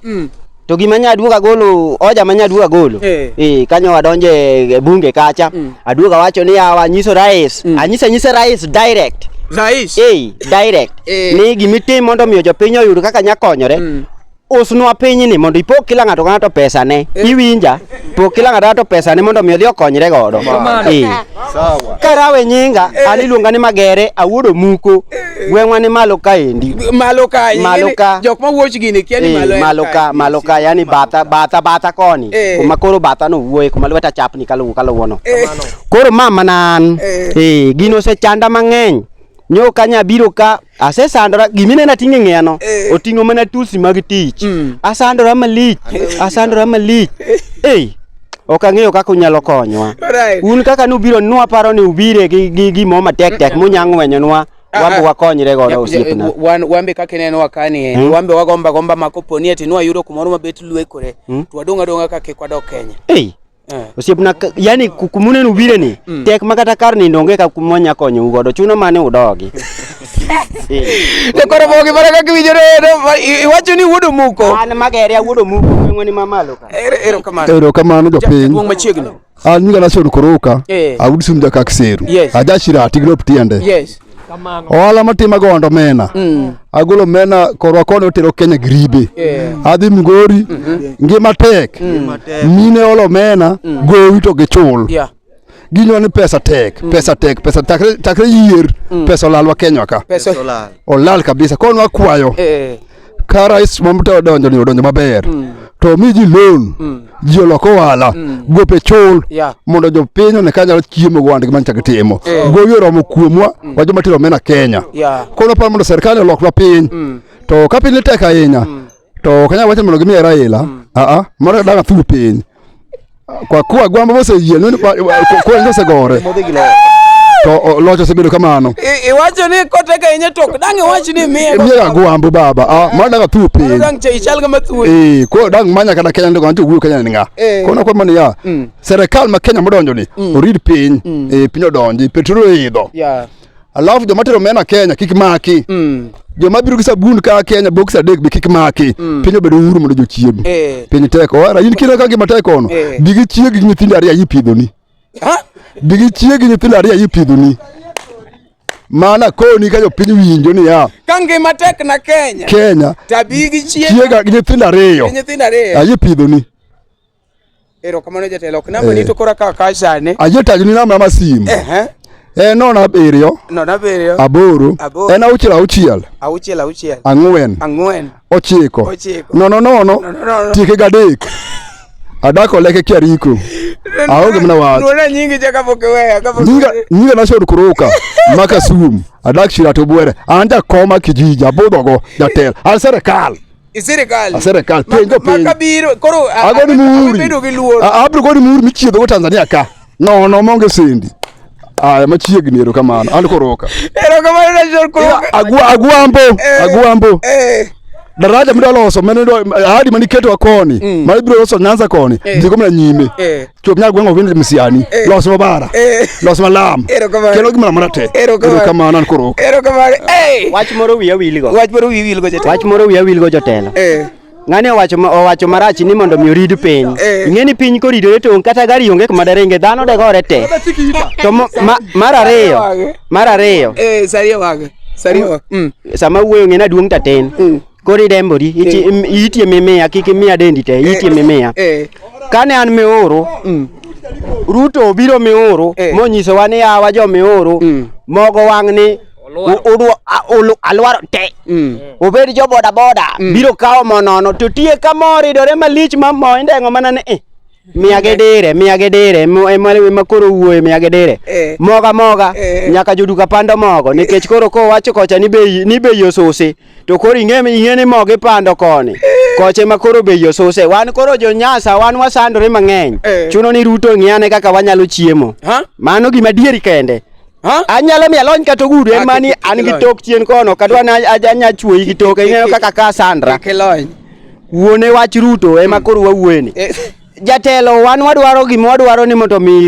to gima nya aduogo agolo oja ma nya aduogo agolo eh, eh kanyo adonje e bunge kacha mm. aduogo awacho ni awa nyiso rais mm. anyisa nyise rais direct rais eh direct eh. ni gimitim mondo miyo jopiny oyud kaka nya konyore mm. usnwa pinyni mondo ipog kila ng'ato ka ng'ato pesane eh. iwinja pok kila ng'ato ng'ato pesane mondo mi odhi okonyre godo eh. karawe nyinga an iluonga ni magere awuodo muko gweng'wa ni malo kaendi malo ka malo ka jok ma wuoch gini kia ni malo malo ka malo ka yani bata bata bata koni eh. kuma koro bata no wuoye kuma lweta chapni kaluwo kaluwo no eh. koro mama nan eh, eh gino se chanda mang'eny nyo kanya biro ka asesandora giminena ting'e ng'eno eh. oting'o mana tulsi mag tich mm. asandora malich asandora malich eh. ok ang'eyo kaka unyalo konyowa un kaka nubiro nwaparo ni ubire gi gimo matek tek munya ng'wenyonwa Ah, wambe ah. wakonyre godo osiepna wambe kaka ineno wakani eh, hmm? wambe wagomba gomba ma kopo ni ati nwayudo kumoro mabet lwekore hmm? to wadong' adong'a ka kik wadok kenya eh. osiepna yani kumuneno ubireni hmm. tek ma kata kar nindo onge ka kumwanya konyou godo chuno mane udogi Jokoro bogi mana kaka iwinjore iwacho ni wuod omuko. An magere wuod omuko ng'weni mamalo ka. Erokamano. Erokamano jopiny. Wong machiegni. An nyinga Nashon Koroka. Eh. Awud sum jakak seru. Ajashira tigrop tiende. Yes. ohala matima gondo mena mm. agolo mena korwa koni otero kenya gribe adhi mgori mm-hmm. ngima tek mm. mine olo mena mm. gowi to gichul ginwa ni pesa tek mm. pesa tek pesa takre, takre yier mm. pesa olalwa kenywa ka pesa olal olal kabisa koro nwakwayo eh. ka rais mamuta odonjo ni odonjo maber mm. to mi ji loan mm. ji olok ohala mm. gope chul yeah. mondo jopiny one ka nyalo chiemo go wandgi manchak timo eh. gowi oromo kuomwa mm. wa joma tero omena kenya yeah. koro par mondo serikali oloknwa piny mm. to ka piny ni tek ahinya mm. to kanya wacho mondo gimiye Raila mm. a ah, a ah, moro daga thuru piny kwa kuwa gwamba mose yie nuni kwa kwa ngose gore to locho osebedo kamano iwacho ni kote ka inye tok dang iwach ni miye miye ga gwambo baba a ah, moro daga thuru piny dang che ichal ga mathuwe eh ko dang manya kada Kenya ndo anto wuyo Kenya ni nga eh. kono kwa mani ya mm. serikal ma Kenya modonjo ni mm. orid piny mm. eh piny odonji petrol idho yeah alafu joma tero mena Kenya kik maki mm. joma biro gi sabun ka Kenya box adek be kik maki mm. piny obedo uhuru mondo jochiegi eh. piny teko wara in kira ka gima teko ono eh. bigi chiegi gi nyithindo ariyo ipidhoni bigi chiegi gi nyithindo ariyo ipidhoni mana koni ka jopiny winjo niya ka ngima tek na Kenya Kenya tabigi chiega gi nyithindo ariyo ayipidhoni Erokamano jatelo, ok namba ni eh. to kora ka ka sani. Ajotagi ni namba ma simu. Eh eh. Eh nono abiriyo. Nono abiriyo. Aboro. Aboro. En auchiel auchiel. Auchiel auchiel. Ang'wen. Ang'wen. Ochiko. Ochiko. Nono nono. Nono nono. Tieke gadek. Adako leke kiariko. Aonge mna wach. Nuna nyingi chaka pokeweya. Nyinga nyinga na shod kuruka. Maka sum. Adak shira to bwere. Anja koma kijiji abodho go jatel. An serikal. Isirikal. Aserikal penjo penjo. Maka biro koro agoni muhuri. Abedo gi luoro. Abro goni muhuri michiedho go Tanzania ka. No no monge sendi. Aya machiegni ero kamano. An koroka. Ero kamano na jor koroka. Agwa agwambo. Eh, agwambo. Eh. Daraja mdaloso mene ndo ahadi maniketo akoni. Mm. Mali bro loso nyanza koni. Eh. Ndiko mna nyime. Eh. Chopnya gwengo wende msiani. Eh. Los mabara. Eh. Los malam. Kelo gimana mana te. Ero kama nan koro. Ero kama. Eh. Wach moro wiya wilgo. Wach moro wiya wilgo jotelo. Wach moro wiya wilgo jotelo. Eh. Ng'ani owacho owacho marach ni mondo mi orid piny. Eh. Ing'e ni piny koridore to kata gari onge kuma derenge dhano de gore te. To mar ariyo. Mar ariyo. Eh, sariyo wage. Sariyo. Mm. Sama wuoyo ng'e na duong' tatin. Mm. Koro irembori, iti- Eh. im- iitie mimia, kik imiya dendi te, iitie mimia. Eh, Kane an mioro, mm, Ruto obiro mioro, Eh. monyisowa ni yawa jo mioro, Mm. mogo wang' ni u- udwa- a- ulu- alwaro te. mm. Obed jo bodaboda, biro kawo mo nono, to tie ka mo ridore malich ma mo indeng'o mana ni eh. miage dire miage dire ema koro wuoye miage dire eh. moga moga eh. nyaka joduka pando mogo nikech eh. koro kowacho kocha ni bei ni bei osusi to koro ing'e ing'e ni mogo ipando koni koche ma koro bei osuse wan koro jonyasa wan wasandore mang'eny chuno ni ruto ng'iane kaka wanyalo chiemo mano gima dieri kende anyalo mi alony kata ogudu en mani an gi tok chien kono kadwa anyachwoyi gi toke ing'eyo kaka ka sandra Wuone wach Ruto ema hmm. koro wawuoye ni. Eh. Jatelo wan wadwaro gima wadwaro ni mondo mi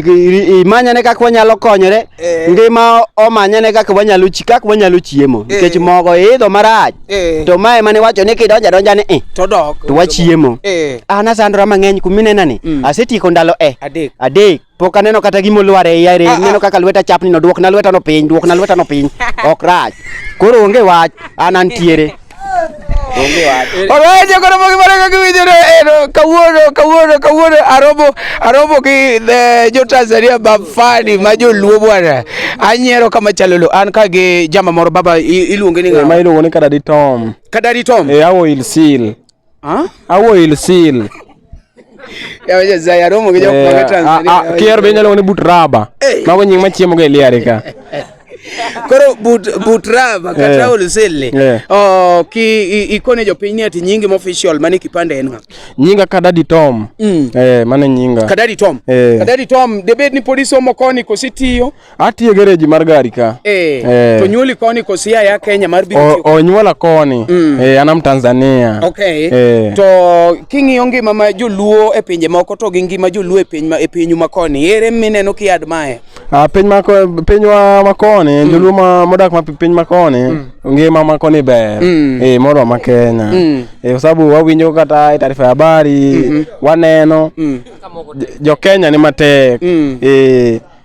imanyane kaka wanyalo konyore eh. ngima omanyane kaka wanyalo chi kaka wanyalo chiemo eh. nikech mogo idho marach to mae mane wacho ni kidonja donja ni to dok to wachiemo an asandora mang'eny kuminena ni hmm. asetieko ndalo e adek pok aneno kata gima olwar e iya rem ah, ah. neno kaka lweta chapni no duokna lweta no piny duokna lweta no piny ok rach koro onge wach an antiere onge wach alright koro mogi mara kaka winjore kawuono kawuono kawuono aromo aromo gi eh, jo Tanzania bafani ma joluo bwana anyiero kama chalolo an ka gi jama moro baba iluonge ni ng'a eh, ma iluongo ni kadadi tom kadadi tom e eh, awo ilsil Ha? Au oil seal. Ya wewe zaya romo kija kwa eh, Tanzania. Ah, ah, kier benya lo ni but raba. Eh. Mago nying machiemo ge liare ka. Koro but but raba kata eh. oil seal. Oh, ki ikone jo piny ni ati nyingi mo official mani kipande en ng'at. Nyinga Kadadi Tom. Mm. Eh, mane nyinga. Kadadi Tom. Kadadi Tom, debed ni polisi omokoni kositiyo. Atiye gereji mar gari ka. Eh. eh. To nyuoli koni kosia ya Kenya mar biro. O, o nyuola koni. Mm. Eh, anam Tanzania. Okay. Eh. To king'iyo ngima ma joluo e pinje moko to gi ngima joluo e piny ma e pinyu ma koni. Ere mineno ki admire? Ah, piny ma piny wa ma koni, mm. joluo ma modak ma piny ma koni. Mm. Ngima ma koni ber. Mm. Eh, moro ma Kenya. Mm. Eh, kwa sababu wawinjo kata e taarifa ya habari, mm -hmm. waneno. Mm. Jo Kenya ni matek. Mm. Eh.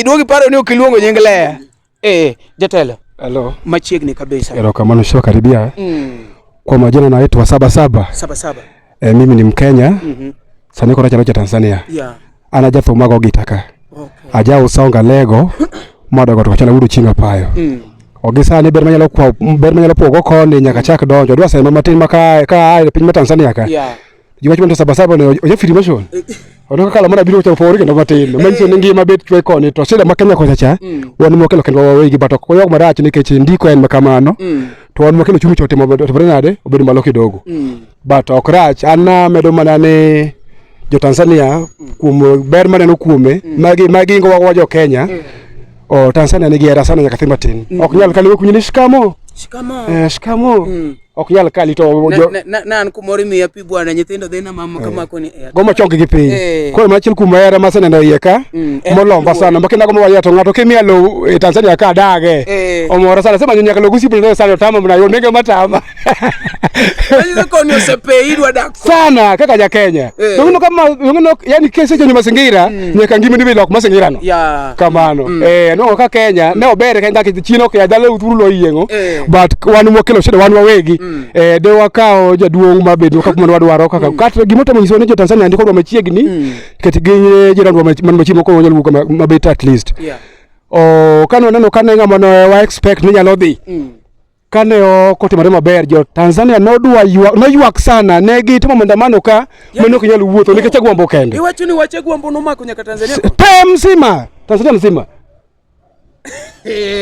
Iduogi paro ni ok iluongo nying Lea. Eh, jatelo. Hello. Machiegni kabisa. Erokamano sio karibia. Mm. Kwa majina naitwa Saba Saba. Saba Saba. Eh, mimi ni Mkenya. Mm -hmm. Sani kora chalo cha Tanzania. Yeah. Ana jatho mago gitaka. Okay. Aja usonga lego. Mada kwa tukachala udu chinga payo. Mm. Ogisani ber manyalo kwa ber manyalo pogo koni nyaka chak donjo. Dwa sema matin maka ka piny ma Tanzania ka. Yeah. Juma chuma saba saba ne oja firi mashon. Eh, eh. Ono kala mana biro chako pori kendo matin. Eh. Manyiso ni ngima bet chwe koni to sida ma Kenya kocha cha. Mm. Wan mo kelo kendo wawe gi batok. Koyo marach nikech ndiko en makamano. Mm. To wan mo kelo chumi chote mabedo to nade obedo malo kidogo. Mm. But ok rach an medo mana ni jo Tanzania kuom ber maneno kuome magi magi ngo wa jo Kenya. O Tanzania nigi hera sana nyaka thimatin. Ok nyal kaliwe kunyini shikamo. Shikamo. Eh, shikamo. ok nyal kali to ne an kumoro imiya pi bwana nyithindo dhi na mama kama eh. koni eh. goma chongi gi piny eh. koro machiel kuom hera ma seneno iye ka mm, molomba sana makina goma waya to ng'ato kimiya lo e Tanzania ka dage omora sana sema nyaka lo gusipo ne sana tama mna yo nege matama Koni osepe idwa dak sana kaka ja Kenya eh. Dongo kama wengine yani kesi chenye mazingira mm. nyaka ngimi ndibe lok mazingira no yeah. kamano mm. eh no ka Kenya mm. ne obere kenda ki chino ke adale uturu lo yiengo eh. but wanu mokelo shida wanu wawegi mm. eh de wakao jaduong ma bedo kaka mwana wadwaro kaka mm. kata gimoto mo nyiso ne jo Tanzania ndiko ndo machiegni mm. kati ginye jira ndo man machimo ko wanyalo wuka mabeta at least yeah. o oh, kano neno kane ngama no wa expect ni nyalo dhi mm. kane ok otimore maber jo Tanzania nodwa ywak noywak sana ne gitimo maandamano ka mano ok nyal wuotho nikech agwambo kende. Iwacho ni wache gwambo nomako nyaka Tanzania. Te mzima Tanzania mzima.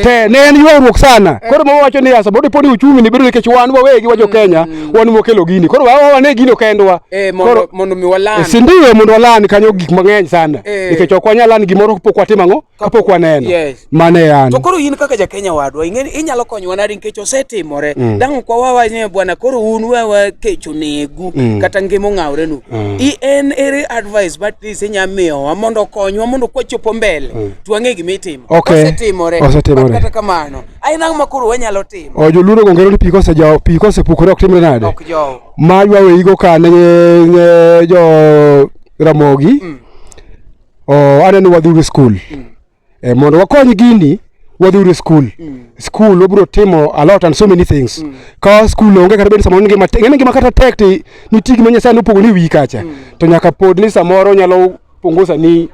Te ne en ywaruok sana. Koro mama wacho ni asa bodi podi uchumi ni bedo nikech wan wawegi wajo mm. Kenya wan mokelo gini. Koro wawa wane gino kendwa. Eh, koro mondo mi walan. Eh, si ndio mondo walan kanyo gik mang'eny sana. Eh. Nikech ok wanyal lan gimoro pok watimo ang'o? kapok waneno Yes. mane yani to koro in kaka jakenya wadwa ing'eni inyalo konyowa nadi nikech osetimore Mm. dang' kwa wawa ni bwana koro un wawa kech onegu Mm. kata ngima ong'awrenu Mm. i en ere advice but this inya miyowa mondo okonywa mondo kwachopo mbele Mm. twang'e gima itimo Okay. osetimore Osetimore. But kata kamano aina ang'o ma koro wanyalo timo o joluoro gongero ni piko osejawo piko osepukore ok timre nade ok jowo ma ywaweyigo ka ne ne jo ramogi Mm. Oh, aneno wadhuru skul mm. e, eh, mondo wakony gini wadhuru skul mm. skul wabiro timo a lot and so many things mm. ka skul onge kata bed samoro ngima ngene ngima kata tek ti nitie gima nyasaye nopogo ni wi kacha mm. to nyaka pod ni samoro nyalo pungusa ni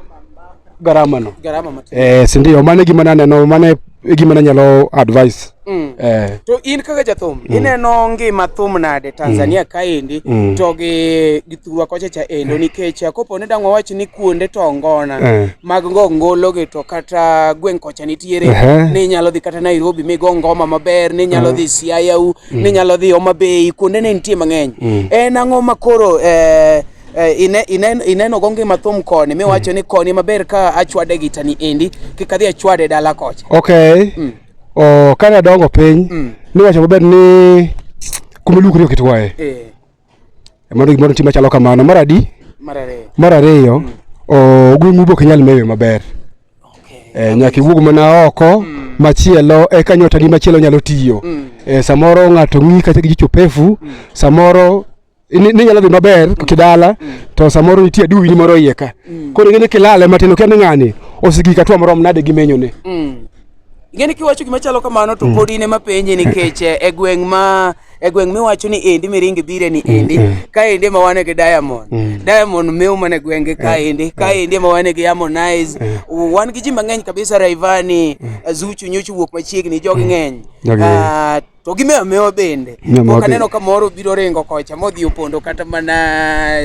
garama no garama matin eh sindio mane gima naneno mane e gima nanyalo advice Mm. eh, to in kaka jathum ineno ngima thum nade tanzania kaendi Mm. to gi gi thurwa kocha cha endo nikech eh, kopo ni dang' wawach ni kuonde to ngona Eh. mag ngo ngologi to kata gweng' kocha nitiere Ehe. ni inyalo dhi kata nairobi migo ngoma maber ni inyalo dhi siayau ni inyalo dhi homa bay kuonde ne nitie mang'eny en ang'o ma koro eh, Eh, ine, ine, ineno go ngima thum koni miwacho mm. ni koni maber ka achwade gita ni endi kik adhi achwade dala kocha okay mm. oh, kane adongo piny mm. niwacho maber ni kumilukri okitwaye eh. mano gimoro nitie machalo kamano mar adi mar ariyo mm. oh, gweng'u be ok nyal meyo maber okay. eh, nyaka iwuog mana oko mm machielo eka nyota ni machielo nyalo tiyo mm. e, samoro ng'ato ng'i kata gi jicho pefu mm. samoro ninyalo dhi maber mm. kidala mm. to samoro nitie aduwi ni moro iye ka mm. koro ing'eni kilale matin okia ni ng'ani osigi katwa morom nade gi menyone ing'eni kiwacho gima chalo kamano to pod in ema penje nikech eh, e gweng' ma e gweng' miwacho ni endi miringi bire ni endi ka endi ema wane gi diamond diamond mew mana e gwenge ka eh, endi ka eh. endi ema wane gi harmonize wan gi ji mang'eny kabisa raivani zuchu nyochu wuok machiegni jogi ng'eny ah, to gi mewo mewo bende ok aneno ka moro biro ringo kocha modhi opondo kata mana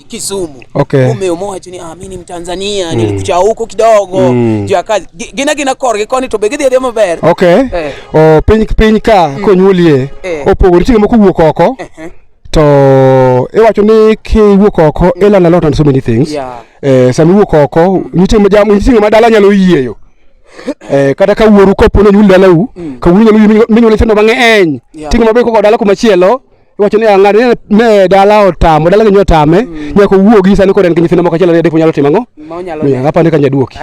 Kisumu okay. Umewo mowacho ni ah, mimi ni Mtanzania mm. nilikucha huko kidogo mm. juu ya kazi gina gina korgi koni to be gidhi adhi maber okay. eh. o piny piny ka mm. konyuolie eh. opogore chieng' moko wuok oko eh. eh. to iwacho ni kiwuok oko mm. ilana lot on so many things yeah. eh, sama iwuok oko nitie ma dala nyalo yieyo Eh, kata ka wuoru kopo nonyuol dalau mm. ka wuoru nyalo minyuol nyithindo mang'eny ting'o maber koko dala kumachielo iwacho ni ang'ad ah, ne dala otamo dala genyo otame mm. nyaka owuogi sani koro en gi nyithindo moko achiel ariyo adek monyalo timo ang'o apande ka nyaduoki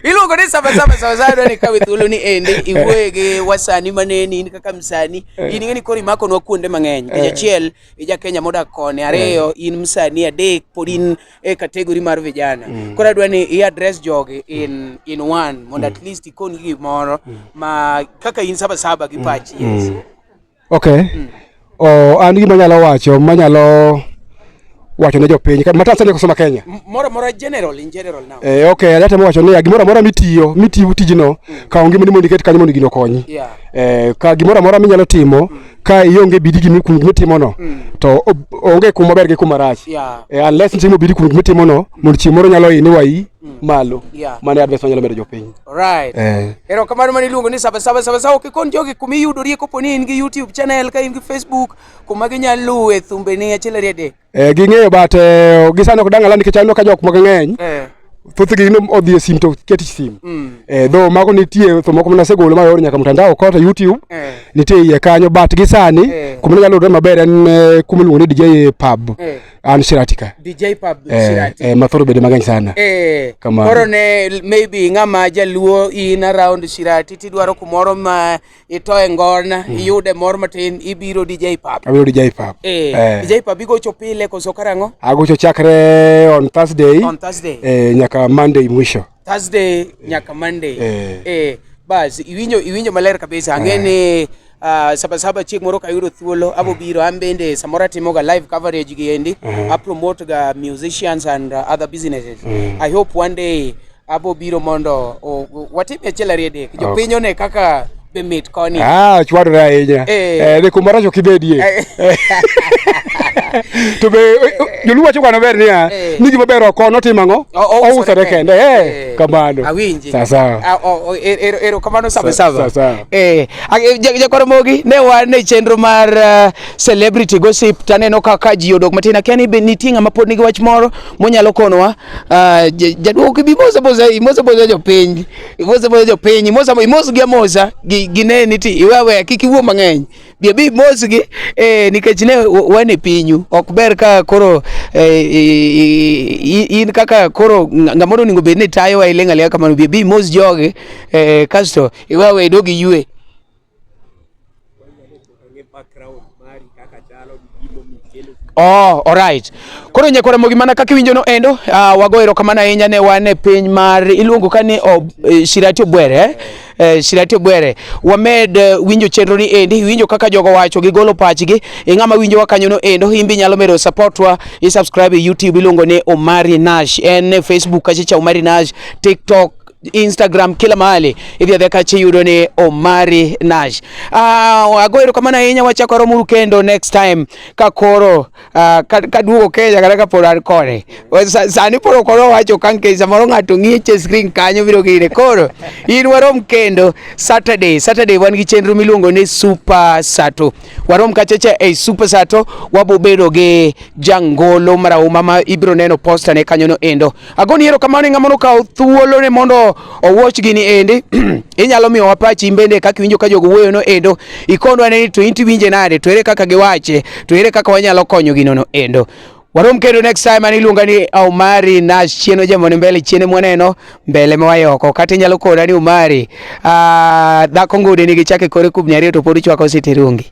iluongo ni sabasaba sabasaba ni kawe thuolo ni ende iwuoye gi wasani maneni in kaka msani eh. in ing'eni koro imakonwa kuonde mang'eny kech eh. achiel ija kenya modak koni ariyo eh. in msani adek pod in e category mar vijana mm. koro adwa ni i address jogi in, in one mondo at mm. least ikoni gimoro mm. ma kaka in saba saba gi mm. pachi mm. yes. okay mm. oh, an gima nyalo wacho manyalo wacho ne jopiny mata sani kosoma Kenya moro moro general in general now eh okay alata wacho ni gimoro amora mitiyo mitiyo tijino mm. ka onge moni mondo iket kanyo mondo gino konyi yeah. eh ka gimoro amora minyalo timo mm. ka ionge bidi gi mikum mitimono to o- onge kuma ber gi kuma rach Yeah. Eh, unless nitimo bidi kum mitimono mondo chieng' moro nyalo ini wayi malo Yeah. mano e advice manyalo medo jopiny Alright. Eh. Erokamano mane iluongo ni Saba Saba Saba Saba. Kikon jogi kuma iyudorie kopo ni in gi YouTube channel, ka in gi Facebook, kuma ginyalo luwe thumbeni achiel ariyo adek. Eh, ging'eyo but eh, gisano ok dang'ala nikech aneno ka jok moko ng'eny eh. thothgi ne odhi e sim to ket sim mm. eh, dho mago nitie to moko mana segolo mayor nyaka mtandao kota YouTube eh. nitie iye kanyo but gi sani eh. kuma nyalo yudore maber en eh, kuma iluongo ni DJ Pub eh. an Shiratika DJ Pub eh, Shiratika eh, mathoro bede mang'eny sana eh. kama koro ne maybe ng'ama jaluo in around Shirati tidwaro kumoro ma itoe ngona mm. iyude mor matin ibiro DJ Pap. Abiro DJ Pap. Eh, eh. DJ Pap igocho pile koso karang'o? Agocho chakre on Thursday. On Thursday. Eh, nyaka Monday mwisho. Thursday nyaka Monday. Eh. eh bas iwinjo iwinjo maler kabisa ang'e eh. ni uh, sabasaba chieng' moro kayudo thuolo eh. abobiro an bende samoro atimoga live coverage gi endi uh eh. -huh. apromote ga musicians and uh, other businesses uh -huh. i hope one day Abo biro mondo watim achiel ariyo adek. Jopiny one kaka be mit koni. Ah, chwadore ahinya. Eh, eh ni kumara jo kibedie. Eh. Eh. To be joluo wacho kano ber niya, ni gima ber oko notim ang'o? Ousore kende. Eh, kamano. Awinji. Sasa. Ah, er, er, ero kamano sabe sabe. Sasa. Eh, jakoro mogi ne wan e chenro mar uh, celebrity gossip taneno kaka ji odok matin akia ni nitie ng'ama pod nigi wach moro monyalo konowa Ah, jaduogo gibi moza moza imoza moza jopiny imoza moza jopiny imoza imoz gi amoza gi gineni ti iwe aweya kik iwuo mang'eny bi abi imoz gi eh, nikech ne wan e pinyu ok ber ka koro eh, in kaka koro ng'amoro onego bed ni tayowa iling' aliya kamano bi abi imoz jogi eh, kasto iwe aweya idog iywe Oh, alright. Koro nyakwara mogima na kaka iwinjo no endo, uh, wago erokamano ahinya ne wan e piny mar iluongo ka ni ob, eh, Shirati Obwere eh? Eh, Shirati Obwere. Wamed eh, winjo chenro ni endi, winjo kaka jogo wacho gigolo pachgi, e ng'ama winjowa kanyo no endo, imbe inyalo medo supportwa, i subscribe e YouTube iluongo ni Omari Nash, en e Facebook kachicha Omari Nash, TikTok Instagram kila mahali ithiatheka chiyudo ni Omari Nash. Ah, uh, ago erokamano ahinya wachako romuru kendo next time ka koro uh, ah, kaduogo ka Kenya kata ka pod an kode. Sani pod ok owacho ka nikech samoro ng'ato ng'iche screen kanyo biro gire. Koro in warom kendo Saturday. Saturday wan gi chenro miluongo ni Super Sato. Warom kachacha e Super Sato wabobedo gi jangolo marahuma ma ibiro neno posta ne kanyono endo. Agoni ero kamano e ng'ama nokawo thuolo ne mondo owuoch gini ende inyalo miyo wapachi in bende kaka iwinjo ka jogo wuoyo no endo ikondo ane ni to in tiwinje nade to ere kaka giwache to ere kaka wanyalo konyo gino no endo warom kendo next time an iluonga ni Omari Nash chieno jamone mbele chiene mwaneno mbele mawayoko kata inyalo kona ni Omari ah, dhako ngode nigi chake kore kubni ariyo to pod ichwako siterungi